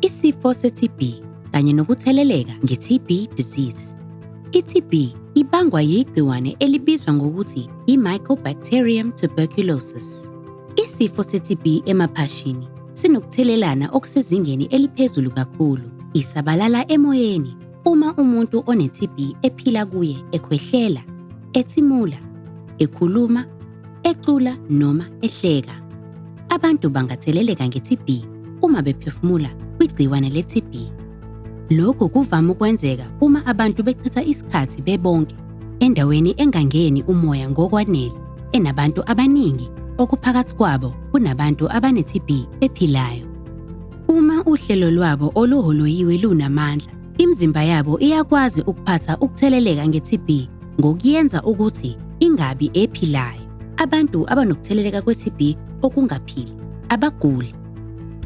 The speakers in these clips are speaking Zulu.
Isifo se-TB kanye nokutheleleka nge-TB disease. I-TB ibangwa yigciwane elibizwa ngokuthi i-Mycobacterium tuberculosis. Isifo se-TB emaphashini sinokuthelelana okusezingeni eliphezulu kakhulu. Isabalala emoyeni uma umuntu one-TB ephila kuye ekhwehlela, ethimula, ekhuluma ecula noma ehleka. Abantu bangatheleleka nge-TB uma bephefumula kwigciwane le-TB. Lokhu kuvame ukwenzeka uma abantu bechitha isikhathi bebonke endaweni engangeni umoya ngokwanele enabantu abaningi okuphakathi kwabo kunabantu abane-TB ephilayo. Uma uhlelo lwabo oluholoyiwe lunamandla, imizimba yabo iyakwazi ukuphatha ukutheleleka nge-TB ngokuyenza ukuthi ingabi ephilayo. Abantu abanokutheleleka kwe-TB okungaphili abaguli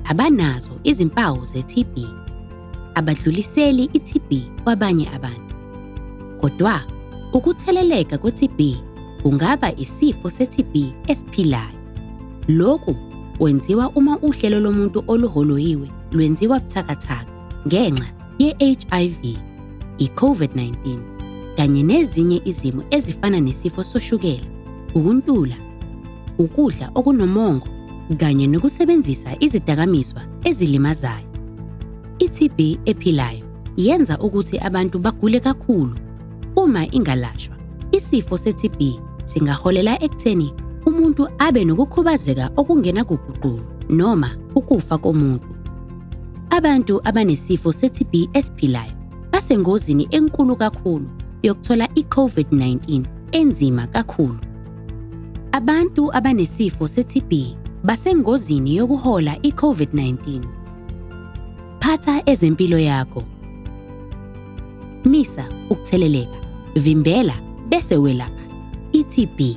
abanazo izimpawu ze-TB abadluliseli i-TB kwabanye abantu. Kodwa ukutheleleka kwe-TB kungaba isifo se-TB esiphilayo. Lokhu kwenziwa uma uhlelo lomuntu oluholoyiwe lwenziwa buthakathaka ngenxa ye-HIV, i-COVID-19 kanye nezinye izimo ezifana nesifo soshukela, ukuntula, ukudla okunomongo kanye nokusebenzisa izidakamizwa ezilimazayo. I-TB ephilayo yenza ukuthi abantu bagule kakhulu. Uma ingalashwa, isifo se-TB singaholela ekutheni umuntu abe nokukhubazeka okungenakuguqulwa noma ukufa komuntu. Abantu abanesifo se-TB esiphilayo basengozini enkulu kakhulu yokuthola i-COVID-19 enzima kakhulu. Abantu abanesifo se-TB basengozini yokuhola i-COVID-19. Phatha ezempilo yakho. Misa ukutheleleka, vimbela bese welapha i-TB.